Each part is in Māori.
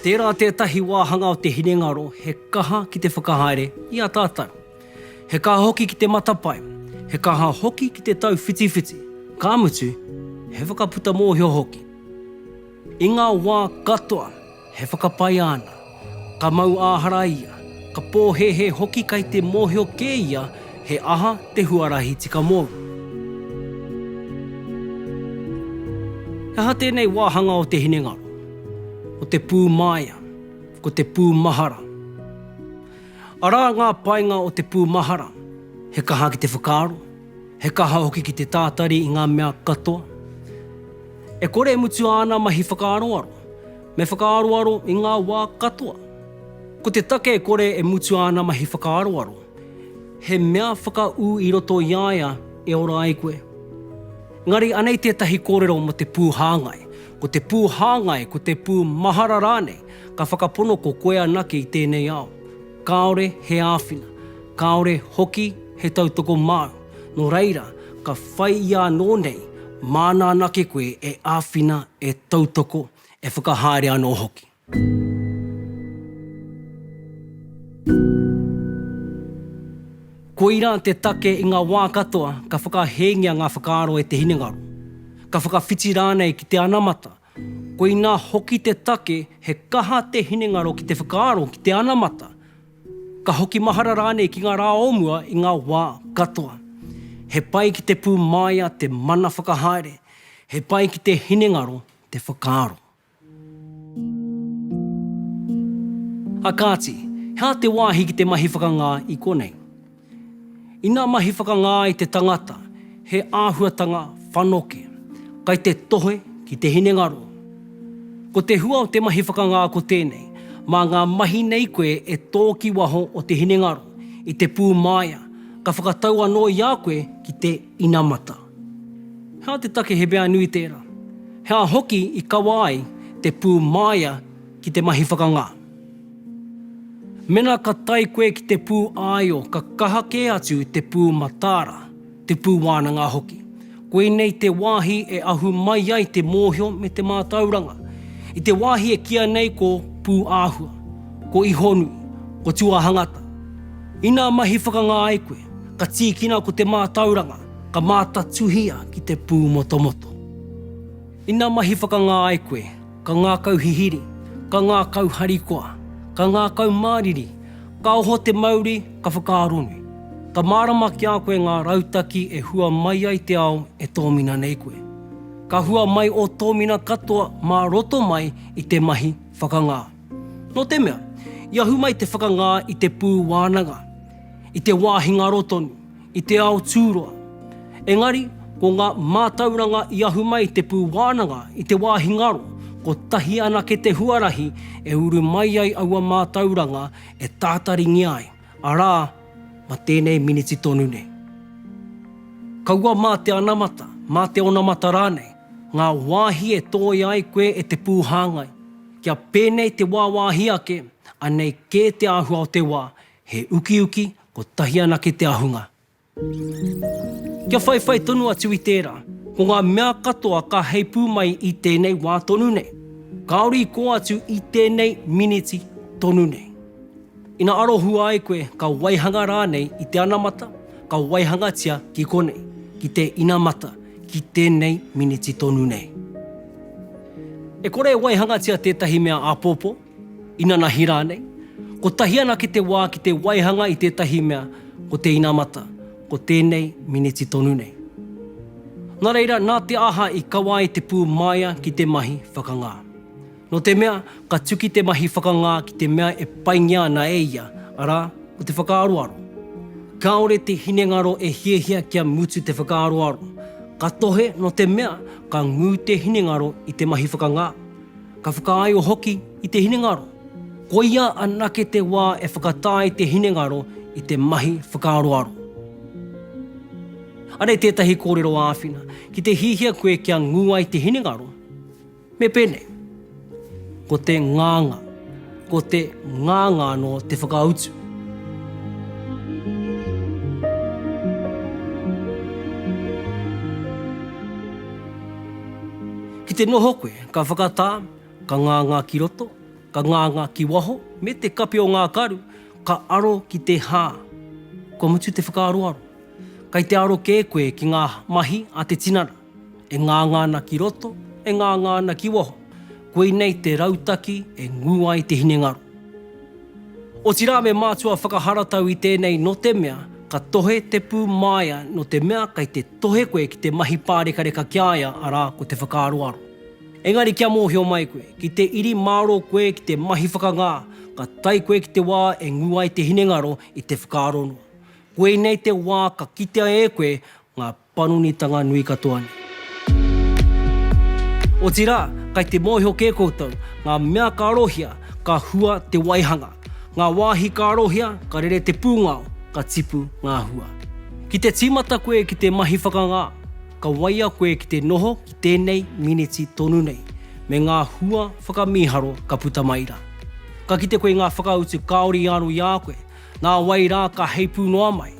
Tērā tētahi wāhanga o te hinengaro he kaha ki te whakahaere i a tātou. He kaha hoki ki te matapae, he kaha hoki ki te tauwhitiwhiti, ka mutu, he whakaputa mōhio hoki. I ngā wā katoa, He whakapae āna. Ka mau āhara ia, ka pōhēhē hoki kai te mōhio kē ia he aha te huarahi tika mōu. He aha tēnei wāhanga o te hinengaro, o te pū māia, ko te pū mahara? Arā ngā painga o te pū mahara, he kaha ki te whakaaro, He kaha hoki ki te tātari i ngā mea katoa. E kore e mutu āna mahi whakaaroaro, me whakaaroaro i ngā wā katoa. Ko te take e kore e mutu āna mahi whakaaroaro, he mea whakaū i roto i a ia e ora ai koe. Engari anei tētahi kōrero mō te pū hāngai, ko te pū hāngai, ko te pū mahara rānei, ka whakapono ko koe anake i tēnei ao. Kāore he āwhina, kāore hoki he tautoko māu, nō reira, ka whai i anō nei māna anake koe e āwhina, e tautoko, e whakahaere anō hoki. Koirā te take i ngā wā katoa ka whakahēngia ngā whakaaro e te hinengaro, ka whakawhiti rānei ki te anamata Koinā hoki te take he kaha te hinengaro ki te whakaaro ki te anamata, ka hoki mahara rānei ki ngā rā o mua i ngā wā katoa. He pai ki te pūmāia te mana whakahaere, he pai ki te hinengaro te whakaaro. A kāti, he aha te wāhi ki te mahi whakangā i konei? Ina mahi whakangā ai te tangata he āhuatanga whanoke, kai te tohe ki te hinengaro. Ko te hua o te mahi whakangā ko tēnei, mā ngā mahi nei koe e tō ki waho o te hinengaro, i te pūmāia, ka whakatau anō i a koe ki te inamata. He aha te take he mea nui tērā? He aha hoki i kawa ai te pūmāia ki te mahi whakangā? Mena ka tae koe ki te pū āio ka kaha kē atu te pū mataara, te pū wānanga hoki. Koinei te wāhi e ahu mai ai te mōhio me te mātauranga. I te wāhi e kīa nei ko Pūāhua, ko Ihonui, ko Tuahangata. Inā mahi whakangā ai koe, ka tīkina ko te mātauranga, ka mātatuhia ki te pūmotomoto. Inā mahi whakangā ai koe, Ka ngākau hihiri, ka ngākau harikoa, ka ngākau māriri, ka oho te mauri, ka whakaaronui. Ka mārama ki a koe ngā rautaki e hua mai ai te ao e tōmina nei koe. Ka hua mai ō tōmina katoa mā roto mai i te mahi whakangā. Nō te mea, i ahu mai te whakangā i te pū wānanga, i te wā hinga aro tonu, i te ao tūroa. Engari, ko ngā mātauranga i ahu mai i te pū wānanga i te wāhi ngaro, kotahi anake te huarahi e uru mai ai aua mātauranga e tātaringia ai, arā, ma tēnei miniti tonu nei. Kaua mā te anamata, mā te onamata rānei, ngā wāhi e tōia ai koe e te pū hāngai, kia pēnei te wāwāhi ake, anei kē te āhua o te wā, He ukiuki, kotahi anake te ahunga. Kia whaiwhai tonu atu i tērā, ko ngā mea katoa ka heipū mai i tēnei wā tonu nei, kāore i kō atu i tēnei miniti tonu nei. Ina arohua ai koe ka waihanga rānei i te anamata, ka waihangatia ki konei, ki te inamata, ki tēnei miniti tonu nei. E kore e waihangatia tētahi mea āpōpō, Inanahi rānei. Kotahi anake te wā ki te waihanga i tētahi mea, ko te inamata, ko tēnei miniti tonu nei. Nā reira, nā te aha i kawa ai te pū māia ki te mahi whakangā? Nō te mea, ka tuki te mahi whakangā ki te mea e paingia ana e ia, arā, ko te whakaaroaro. Kāore te hinengaro e hiahia kia mutu te whakaaroaro. Ka tohe, nō te mea, ka ngū te hinengaro i te mahi whakangā. Ka whakaaio hoki i te hinengaro. Koia anake te wā e whakatae te hinengaro i te mahi whakaaroaro. Anei tētahi kōrero āwhina, ki te hiahia koe kia ngū ai te hinengaro, me pēnei, Ko te ngāngā, ko te ngāngā anō te whakautu. Ki te noho koe, Ka whakatā, ka ngāngā ki roto, ka ngāngā ki waho, me te kape o ngā karu, ka aro ki te hā. Kua mutu te whakaaroaro. Kei te aro kē koe ki ngā mahi a te tinana, e ngāngā ana ki roto, e ngāngā ana ki waho. Koinei te rautaki e ngū ai te hinengaro. Otirā me mātua whakaharatau i tēnei no te mea ka tohe te pū māia no te mea kei te tohe koe ki te mahi pārekareka ki a ia arā ko te whakaaroaro. Engari kia mōhio mai koe, ki te iri mārō koe ki te mahi whakangā ka tae koe ki te wā e ngū ai te hinengaro i te whakaaro noa. Koinei te wā ka kitea e koe ngā panonitanga nui katoa nei. Otirā, kai te mōhio kē koutou, ngā mea ka arohia, ka hua te waihanga. Ngā wāhi ka arohia, ka rere te pūngao, ka tipu ngā hua. Ki te tīmata koe ki te mahi whakangā, ka waia koe ki te noho ki tēnei miniti tonu nei, me ngā hua whakamīharo ka puta mai rā. Ka kite koe i ngā whakautu kāore i aro i a koe, Nā wai rā ka heipū noa mai,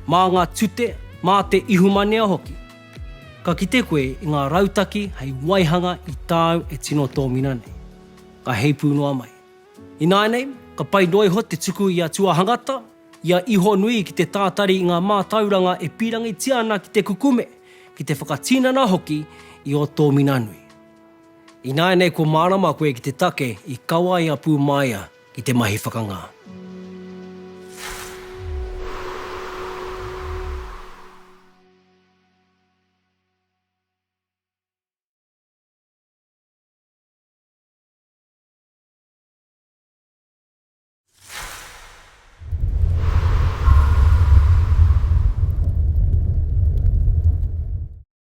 mā ngā tute, mā te ihumanea hoki? Ka kite koe i ngā rautaki hei waihanga i tāu e tino tōmina nei. Ka heipū noa mai. Ināianei, ka pai noa iho te tuku i a Tuahangata, i a Ihonui ki te tātari i ngā mātauranga e pīrangitia ana ki te kukume, ki te whakatinana hoki i ō tōmina nui. Ināianei kua mārama koe ki te take i kawaia pū māia ki te mahi whakangā.